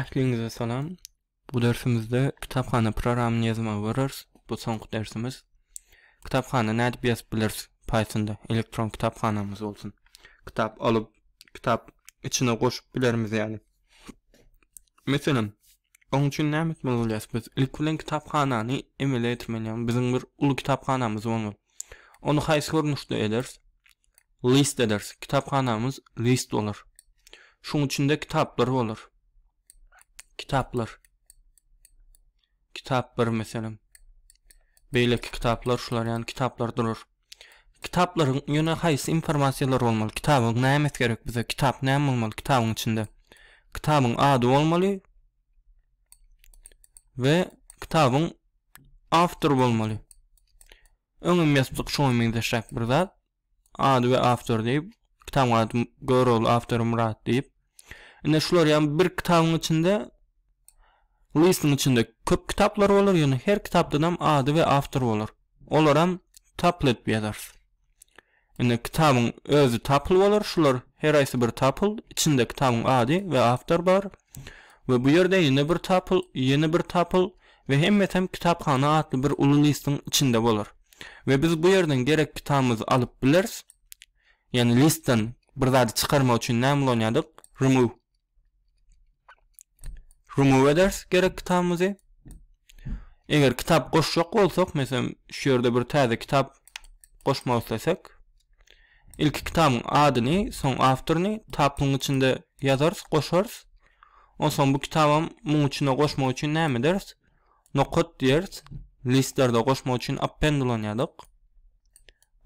Ähliňize salam. Bu dersimizde kitaphana programyny ýazmagy görüris. Bu soňky dersimiz. Kitaphana nädip ýazyp bileris? Pythonda elektron kitaphanamyz bolsun. Kitap alyp, kitap içine goşup bilerimiz ýaly. Meselem, oň üçin näme etmeli bolýarys biz? Ilki bilen kitaphanany emele getirmeli, ýagny biziň bir uly kitaphanamyz bolmaly. Ony haýsy görnüşde ederis? List ederis. Kitaphanamyz list bolar. Şuň içinde kitaplar bolar. Kitaplar. Kitap bir meselem. Beýleki kitaplar şular ýaly kitaplar durur. Kitaplaryň ýöne haýsy informasiýalar bolmaly? Kitabyň näme gerek bize? Kitap näme bolmaly kitabyň içinde? Kitabyň ady bolmaly, we kitabyň awtory bolmaly. Öňem ýazdyk şoňa meňzeşräk bir zat. Ady we awtor diýip, kitabyň ady Görogly awtory Myrat diýip. Ine şular ýa bir kitabyň içinde listyň içinde köp kitaplar bolar, ýöne her kitapdan hem ady we awtor bolar. Olar hem taplet ýazarys. Indi kitabyň özi tapyl bolar, şular her aýsy bir tapyl, içinde kitabyň ady we awtor bar we bu ýerde ýene bir tapyl, ýene bir tapyl we hemmesem kitaphana atly bir uly listiň içinde bolar we biz bu ýerden gerek kitabymyzy alyp bileris, ýagny listden bir zady çykarmak üçin näme ulanýardyk? Remove. remove eders gerek kitabymyzy. Eger kitap goşjak bolsak, meselem, şu ýerde bir täze kitap goşmak islesek, ilki kitabyň adyny, soň awtoryny tapyň içinde ýazarys, goşarys. Onsoň bu kitabam muň içine goşmak üçin näme eders? Nokat diýeris. Listlerde goşmak üçin append ulanýardyk.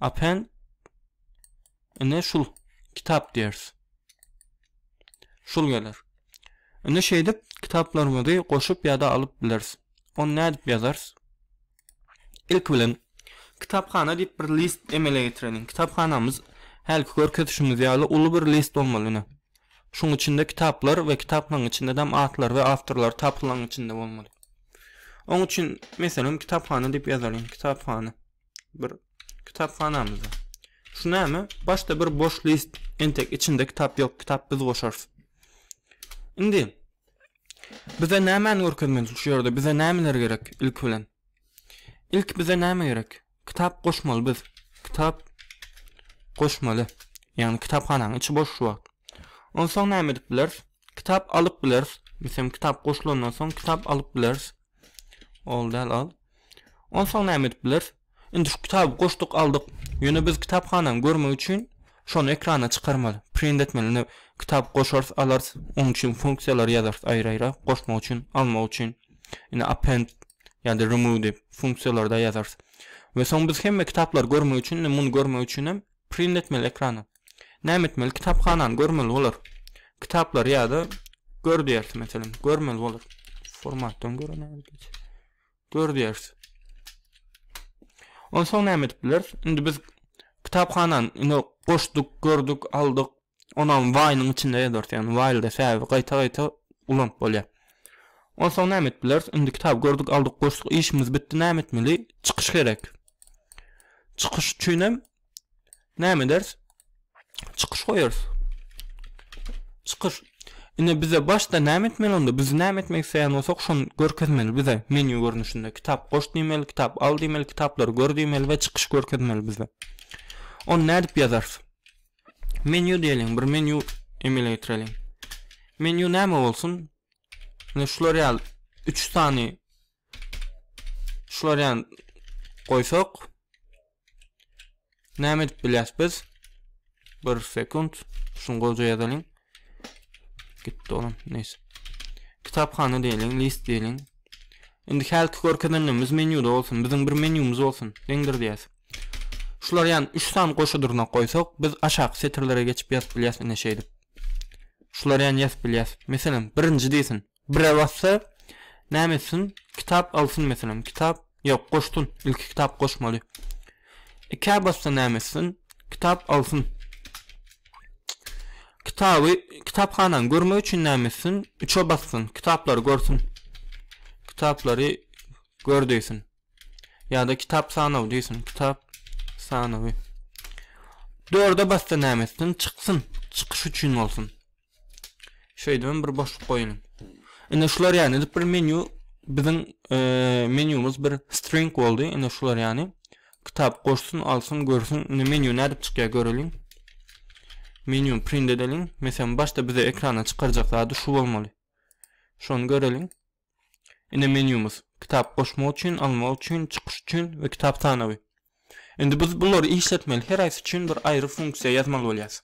Append Ine şul kitap diýeris. Şul geler. Indi şeýdip kitaplarymyzy goşup ýa-da alyp bileris. Ony nädip ýazarys? Ilki bilen kitaphana diýip bir list emele getireliň. Kitaphanamyz hälki görkezişimiz ýaly uly bir list bolmaly ine. Şuň içinde kitaplar we kitaplaryň içinde däm atlar we awtorlar tapylaň içinde bolmaly. Oň üçin meselem kitaphana diýip ýazalyň. Kitaphana. bir kitaphanamyzda. Şu näme? Başda bir boş list, entek içinde kitap ýok, kitap biz goşarys. Indi bize nämäni görkezmeli şu ýerde? Bize nämeler gerek ilki bilen? Ilki bize näme gerek? Kitap goşmaly biz. Kitap goşmaly. Ýagny kitaphanaň içi boş şu wagt. Onsoň näme edip bileris? Kitap alyp bileris. Meselem kitap goşulandan soň kitap alyp bileris. Ol däl al. Onsoň näme edip bileris? Indi şu kitaby goşduk, aldyk. Ýöne biz kitaphanany görmek üçin şony ekrana çykarmaly, print etmeli. Indi kitap goşarys, alarys. Onuň üçin funksiýalary ýazarys aýry-aýra, goşmak üçin, almak üçin. Indi append ýa-da remove diýip funksiýalary-da ýazarys. We soň biz hemme kitaplary görmek üçin, indi muny görmek üçin hem Print etmeli ekrana. Näme etmeli? Kitaphanany görmeli bolar. Kitaplary ýa-da gör diýersiň, meselem, görmeli bolar. Formatdan görä näme geç. Gör diýersiň. Onsoň näme edip bileris? Indi biz kitaphanany indi goşduk, gördük, aldyk, Onam waýnyň içinde ýazypdyrys ýagny waýlda säbäbi gaýta gaýta ulanyp bolýar. Onsoň näme edip bileris indi kitaby gördük aldyk goşduk işimiz bitdi näme etmeli çykyş gerek. Çykyş üçinem näme ederis çykyş goýarys. Çykyş Ine bize başda näme etmeli onda? Biz näme etmek isleýän bolsak şony görkezmeli bize menýu görnüşinde. Kitap goş diýmeli, kitap al diýmeli, kitaplary gör diýmeli we çykyş görkezmeli bize. Ony nädip ýazarys? Menýu diýeliň, bir menýu emele getireliň. Menýu näme bolsun? Ine şular ýaly 3 sany şular ýaly goýsak näme edip bilýäs biz? Bir sekund, şuny goja ýazalyň. Gitdi olam, neyse. Kitaphana diýeliň, list diýeliň. Indi hälki görkezenlerimiz menýuda bolsun. Biziň bir menýumyz bolsun. Deňdir diýäs. Şular ýan üç sany goşa durnak goýsak, biz aşaky setirlere geçip ýazyp bilýäs, ine şeýdip. Şular ýan ýazyp bilýäs. Meselem, birinji diýsin. Bire bassa, näme etsin? Kitap alsyn meselem. Kitap, ýok, goşsun. Ilki kitap goşmaly. Ikä bassa näme etsin? Kitap alsyn. Kitaby, kitaphanany görmek üçin näme etsin? Üçe bassyn. Kitaplary görsün. Kitaplary gör diýsin. Ýa-da kitap sanawy diýsin, kitap sanawy. Dörde basda näme etsin? Çyksyn, çykyş üçin bolsun. Şeýdip hem bir boşluk goýun. Indi şular ýany edip bir menýu biziň e, menýumyz bir string boldy. Indi şular ýany kitap goşsun, alsyn, görsün. Indi menýu nädip çykýar göreliň. Menýu print edeliň. Meselem, başda bize ekrana çykarjak zady şu bolmaly. Şony göreliň. Ine menýumyz. Kitap goşmak üçin, almak üçin, çykyş üçin we kitap sanawy. Indi biz bulary işletmeli heraýsy üçin bir aýry funksiýa ýazmaly bolýas.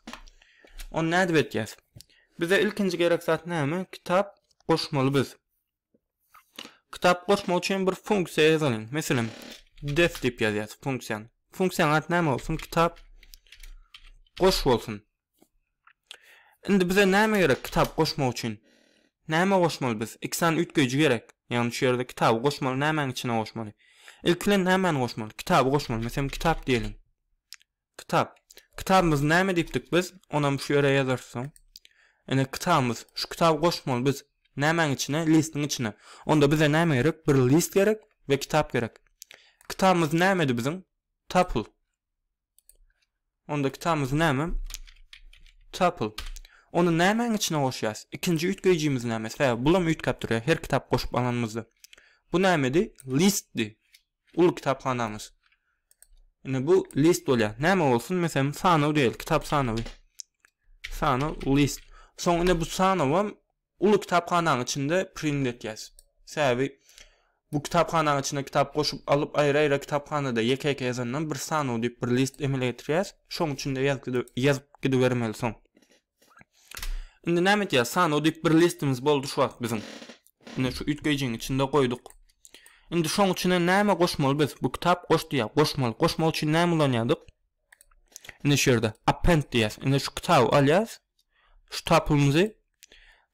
Ony nädip etýäs? Bize ilkinji gerek zat näme? Kitap goşmaly biz. Kitap goşmak üçin bir funksiýa ýazalyň. Meselem, def diýip ýazýas funksiýany. Funksiýanyň ady näme bolsun? Kitap goş bolsun. Indi bize näme gerek kitap goşmak üçin? Näme goşmaly biz? Iki sany üýtgeýji gerek. Ýagny şu ýerde kitaby goşmaly, nämäň içine goşmaly? Ilki bilen nämäni goşmaly? Kitaby goşmaly. Meselem kitap diýeliň. Kitap. Kitabymyzy näme diýipdik biz? Onam şu ýere ýazarys soň. Ine kitabymyz. Şu kitaby goşmaly biz. Nämäň içine? Listiň içine. Onda bize näme gerek? Bir list gerek we kitap gerek. Kitabymyz nämedi biziň? Tapl. Onda kitabymyz näme? Tuple. Ony nämäň içine goşýas? Ikinji üýtgeýjimiz näme? Sebäbi bulam üýtgäp durýar her kitap goşup alanymyzda. Bu nämedi? Listdi. Uly kitaphanamyz. Ine bu list bolýar. Näme bolsun? Meselem, sanaw diýeli, kitap sanawy. Sanaw list. Soň ine bu sanawam Uly kitaphanaň içinde print etýäs. Sebäbi bu kitaphanaň içine kitap goşup alyp aýra-aýra kitaphanada ýeke-ýeke ýazandan bir sanaw diýip bir list emele getirýäs. Şoň üçin-de ýazyp gidibermeli soň. Indi näme etýäs? Sanaw diýip bir listimiz boldy şu wagt biziň. Ine şu üýtgeýjiň içinde goýduk. Indi şoň içine näme goşmaly biz? Bu kitap goş diýýär. Goşmaly. Goşmak üçin näme ulanýardyk? Ine şu ýerde append diýýäs. Ine şu kitaby alýas. Şu tapylymyzy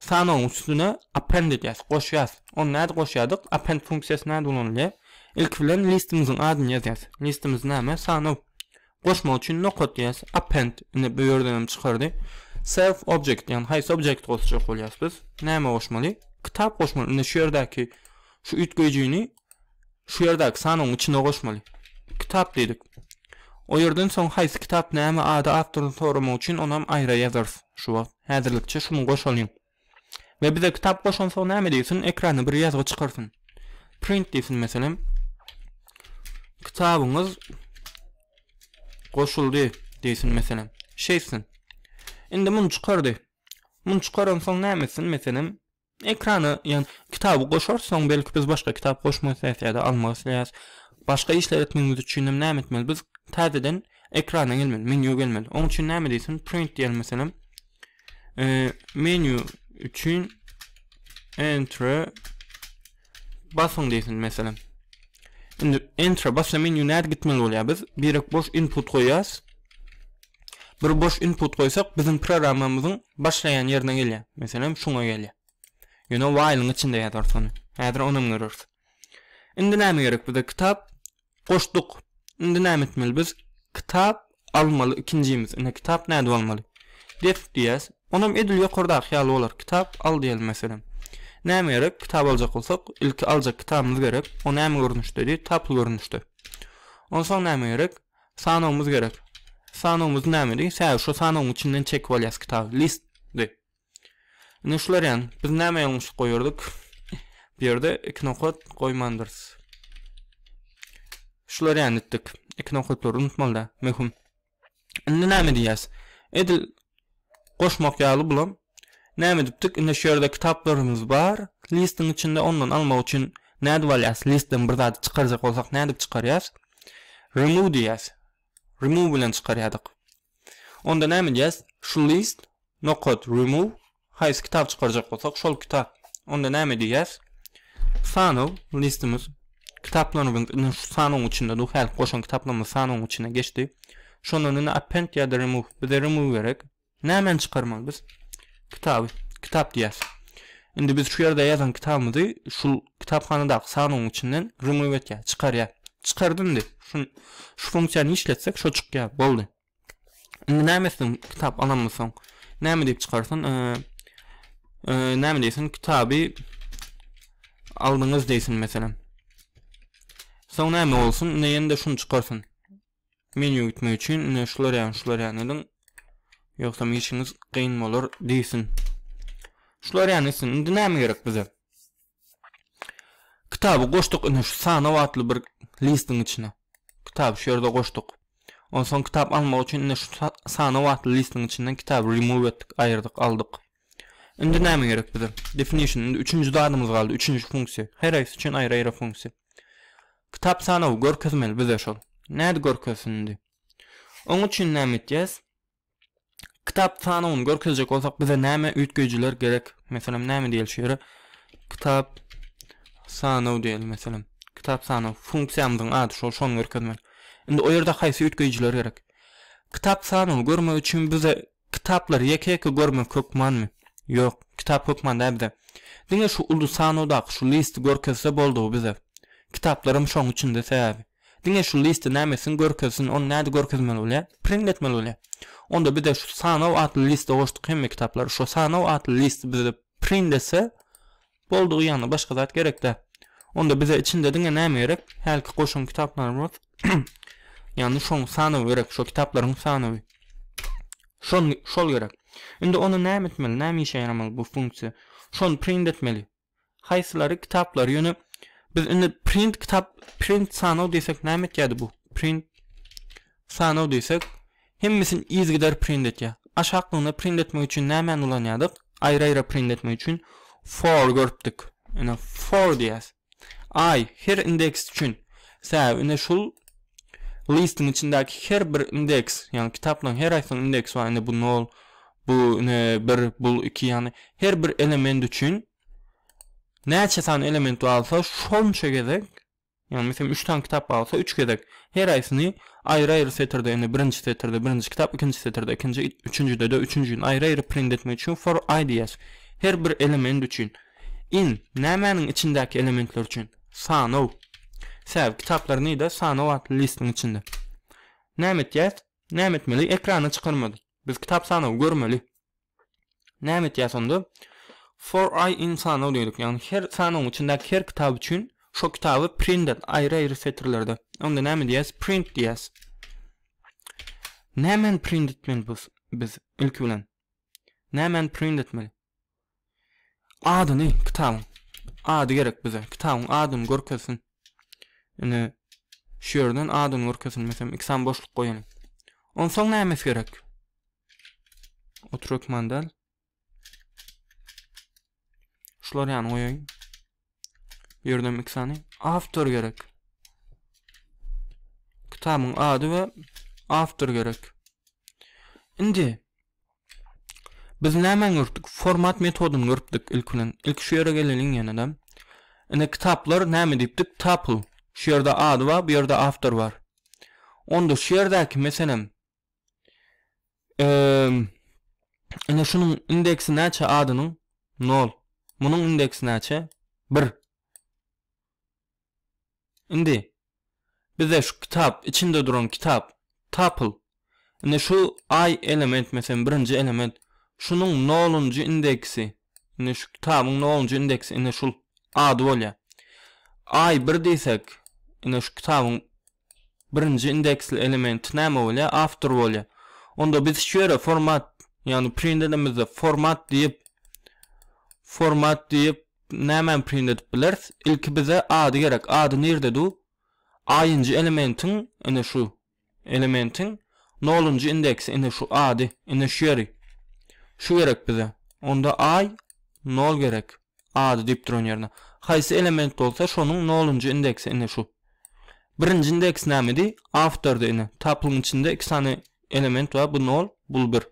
Sanawyň üstüne append edýäs, goşýas. Ony nädip goşýardyk? Append funksiýasy näde ulanylýar? Ilki bilen listimiziň adyny ýazýas. Listimiz näme? Sanaw. Goşmak üçin nokat diýýäs. Append. Ine bu ýerden hem çykardy. Self object, ýagny haýsy objekti goşjak bolýas biz? Näme goşmaly? Kitap goşmaly. Ine şu ýerdäki şu üýtgeýjini Şu ýerdäki sanawyň içine goşmaly. Kitap diýdik. O ýerden soň haýsy kitap näme ady awtoryny soramak üçin onam aýra ýazarys şu wagt. Häzirlikçe şuny goşalyň. We bize kitap goşansoň näme diýsin ekrana bir ýazgy çykarsyn. Print diýsin meselem. Kitabyňyz goşuldy diýsin meselem. Şeýtsin. Indi muny çykardy. Muny çykaransoň näme etsin meselem. Ekrana ýan kitaby goşarsoň belki biz başga kitap goşmak isleýäs ýa-da almak isleýäs. Başga işler etmegimiz üçinem näme etmeli? Biz täzeden ekrana gelmeli, menýu gelmeli. Oň üçin näme diýsin? Print diýelim meselem. Eee menýu üçin enter Basyň diýsin meselem. Indi enter basýan menýu nädip gitmeli bolýar? Biz birek boş input goýýas. Bir boş input goýsak, biziň programmamyzyň başlaýan ýerine gelýär. Meselem, şuňa gelýär. Ýöne while-iň içinde ýazarys ony. Häzir onam göreris. Indi näme gerek bize? Kitap Goşduk. Indi näme etmeli biz? Kitap almaly ikinjimiz. Ine kitap nädip almaly? Dep diýýäs. Onam edil ýokardaky ýaly bolar. Kitap al diýeli meselem. Näme gerek? Kitap aljak bolsak, ilki aljak kitabymyz gerek. O näme görnüşdedi? Tapl görnüşde. Onsoň näme gerek? Sanawymyz gerek. Sanawymyz nämedi? Sä şu sanawyň içinden çekip alýas kitaby. Listdi. Ine şular ýan. Biz näme ýalňyşlyk goýardyk? Bu ýerde iki nokat goýmandyrys. Şular ýan etdik. Iki nokatlary unutmalyda. Möhüm. Indi näme diýýäs? Edil goşmak ýaly bulam. Näme edipdik? Indi şu ýerde kitaplarymyz bar. Listiň içinde ondan almak üçin nädip alýas? Listden bir zady çykarjak bolsak nädip çykarýas? Remove diýýäs. Remove bilen çykarýardyk. Onda näme diýýäs? Şu list Nokat remove haýsy kitaby çykarjak bolsak şol kitap. Onda näme diýýäs? Sanaw listimiz kitaplarymyz indi şu sanawyň içinde dur häzir goşan kitaplarymyz sanawyň içine geçdi. Şondan indi append ýa-da remove bize remove gerek. Nämäni çykarmaly biz? Kitaby. Kitap diýýäs. Indi biz şu ýerde ýazan kitabymyzy şu kitaphanadaky sanawyň içinden remove etýär, çykarýar. Çykardy indi. Şu şu funksiýany işletsek şo çykýar. Boldy. Indi näme etsin kitap alammy soň? Näme diýip çykarsyn? Näme diýsin? Kitaby aldyňyz diýsin meselem. Soň näme bolsun? Indi ýene-de şuny çykarsyn. Menýu gitmek üçin indi şular ýaly, şular ýaly ediň. Ýogsa işiňiz kyn bolar diýsin. Şular ýaly etsin. Indi näme gerek bize? Kitaby goşduk ine şu sanaw atly bir listiň içine. Kitaby şu ýerde goşduk. Onsoň kitap almak üçin ine şu sanaw atly listiň içinden kitaby remove etdik, aýyrdyk, aldyk. Indi näme gerek bize? Definition indi üçünji zadymyz galdy, üçünji funksiýa. Her aýsy üçin aýry-aýry funksiýa. Kitap sanawy görkezmeli bize şol. Näde görkezsin indi? Oň üçin näme etýäs? Kitap sanawyny görkezjek bolsak bize näme üýtgeýjiler gerek? Meselem näme diýeli şu ýere? Kitap sanaw diýeli meselem. Kitap sanaw funksiýamyzyň ady şol şony görkezmek. Indi o ýerde haýsy üýtgeýjiler gerek? Kitap sanawy görmek üçin bize kitaplary ýeke-ýeke görmek hökmanmy? Ýok, kitap hökman däl bize. Diňe şu uly sanawdaky şu listi görkezse boldugy bize. Kitaplar hem şoň içinde sebäbi. Diňe şu liste näme etsin görkezsin ony näde görkezmeli bolýa print etmeli bolýa onda bize şu sanaw atly liste goşduk hemme kitaplary şo sanaw atly list bize print etse boldugy ýagny başga zat gerekdä onda bize içinde diňe näme gerek hälki goşan kitaplarymyz ýagny şoň sanawy gerek şo kitaplaryň sanawy şon şol gerek indi ony näme etmeli näme işe ýaramaly bu funksiýa şony print etmeli Haýsylary kitaplary ýöne biz indi print kitap print sanaw diýsek näme etýärdi bu print sanaw diýsek hemmesini yzgider print etýär. Aşaklygyna print etmek üçin nämäni ulanýardyk? Aýry-aýra print etmek üçin for görüpdik. Ine for diýýäs. I her indeks üçin. Sä ine şul Listiň içindäki her bir indeks, ýagny kitaplaryň her haýsynyň indeksi bar. Indi bu nol, bu ine bir, bul iki, ýagny her bir element üçin näçe sany element barsa şonça gezek, ýagny meselem üç sany kitap barsa üç gezek her haýsyny aýry-aýry setirde, indi birinji setirde birinji kitap, ikinji setirde ikinji, üçünjide-de üçünjini aýry-aýry print etmek üçin for i diýýäs. Her bir element üçin. In, nämäniň içindäki elementler üçin? Sanaw. Säw kitaplar nide? Sanaw atly listiň içinde. Näme etýäs? Näme etmeli? Ekrana çykarmady. Biz kitap sanawy görmeli. Näme etýäs onda? For I in sanaw diýdik. Ýagny her sanawyň içindäki her kitap üçin şo kitaby print et aýry-aýry setirlerde. Onda näme diýäs? Print diýäs. Nämen print etmeli biz? Biz ilki bilen. Nämen print etmeli? Adyny kitabyň ady gerek bize kitabyň adyny görkezsin ine şu ýerden adyny görkezilmesem iki sany boşluk goýalyň onsoň nämes gerek oturekmandal şular ýany goýaýyn Bu ýerden iki sany awtor gerek. Kitabyň ady we awtor gerek. Indi biz näme görüpdik? Format metodyny görüpdik ilk bilen. Ilk şu ýere geleliň ýene-de. Indi kitaplar näme diýipdik? Tuple. Şu ýerde ady bar, bu ýerde awtor bar. Onda şu ýerdäki meselem Eee Ine şunuň indeksi näçe adynyň? Nol. Munuň indeksi näçe? Bir. Indi bize şu kitap, içinde duran kitap, tuple. Ine şu I element meselen birinji element. Şunuň nolunjy indeksi. Ine şu kitabyň nolunjy indeksi. Ine şul ady bolýar. I bir diýsek, ine şu kitabyň Birinji indeksli elementi näme bolýar? Awtor bolýar. Onda biz şu ýere format, ýagny print edemizde format diýip, format diýip nämäni print edip bileris? Ilki bize ady gerek. Ady nirde du? Aýynjy elementiň, ine şu elementiň nolunjy indeksi, ine şu ady, ine şu ýeri. Şu gerek bize. Onda aý nol gerek. Ady diýip duran ýerine. Haýsy element bolsa şonuň nolunjy indeksi ine şu. Birinji indeks nämedi? Awtordy ine. Taplyň içinde iki sany element bar bu nol bul bir.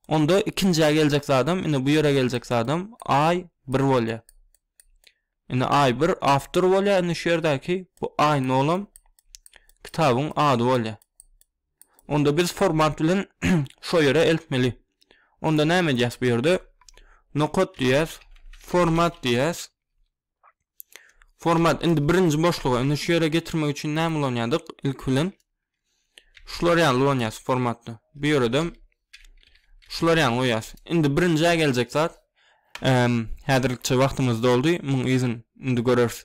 Onda ikinjä geljek zadam ine bu ýere geljek zadam aý bir bolýar. Ine aý bir awtor bolýar ine şu ýerdäki bu aý nolam kitabyň ady bolýar. Onda biz formant bilen şo ýere eltmeli. Onda näme edýäs bu ýerde? Nokat diýýäs, format diýýäs. Format indi birinji boşluga, indi şu ýere getirmek üçin näme ulanýardyk? Ilki bilen şular ýaly ulanýas formatda. Bu ýere de şular ýaly goýýas. Indi birinjä geljek zat häzirlikçe wagtymyz doldy. Muň yzyn indi göreris.